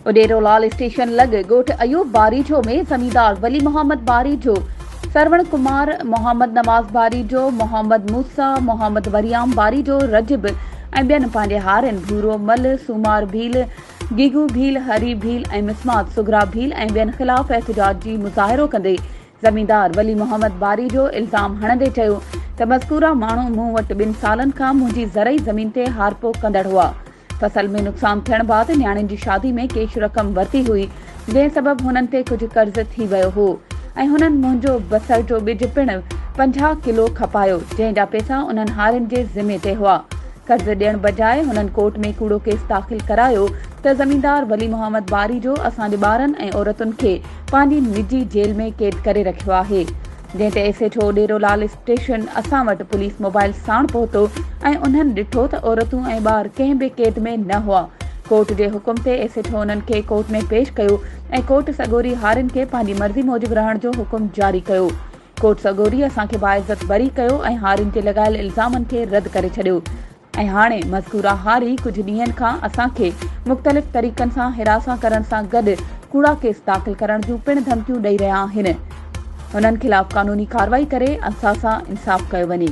Udero Lal station لڳ ڳوٺ ايوب باريجو ۾ زميندار ولي محمد باريجو، سروڻ ڪمار، محمد نواز باريجو، محمد موسيٰ، محمد وريام باريجو، رجب ۽ ٻين پنهنجي هارين ڀورو مل، سومار ڀيل، گيگو ڀيل، هري ڀيل ۽ مسمات صغريٰ ڀيل ۽ ٻين خلاف احتجاج جي مظاهرو ڪندي زميندار ولي محمد باريجو الزام هڻندي چيو ته مذڪوره ماڻهو مون وٽ ٻن سالن کان منهنجي زرعي زمين تي هارپو ڪندڙ هئا، فصل ۾ نقصان ٿيڻ بعد نياڻين جي شادي ۾ ڪيش رقم ورتي هئي جنهن سبب هنن تي ڪجهه قرض ٿي ويو هو ۽ هنن منهنجو بصر جو ٻج پڻ پنجاهه ڪلو کپايو جنهن جا پيسا انهن هارين جي ذمي تي هئا. قرض ڏيڻ بجاء هنن ڪورٽ ۾ ڪوڙو ڪيس داخل ڪرايو ته زميندار ولي محمد باري جو اسان جي ٻارن ۽ عورتن کي پنهنجي نجي جيل ۾ قيد ڪري رکيو آهي. جنهن تي S H O Derolal station اسان وٽ پوليس موبائيل ساڻ پهتو ۽ انهن ڏٺو ته عورتون ۽ ٻار ڪنهن به قيد ۾ نه هئا. ڪورٽ جي حڪم تي ايس ايڇ او انهن کي ڪورٽ ۾ پيش ڪيو ۽ ڪورٽ سڳوري هارين کي پنهنجي مرضي موجب رهڻ جو حڪم جاري ڪيو. ڪورٽ سڳوري اسان کي باعزت بري ڪيو ۽ هارين تي لڳايل الزامن کي رد ڪري ڇڏيو ۽ هاڻي مذڪوره هاري ڪجهه ڏينهن کان اسان کي مختلف طريقن سان حراسان ڪرڻ سان گڏ ڪوڙا ڪيس داخل ڪرڻ جون پڻ ڌمڪيون ڏئي رهيا آهن هنن خلاف قانوني ڪارروائي ڪري اسان سان انصاف ڪيو وڃي.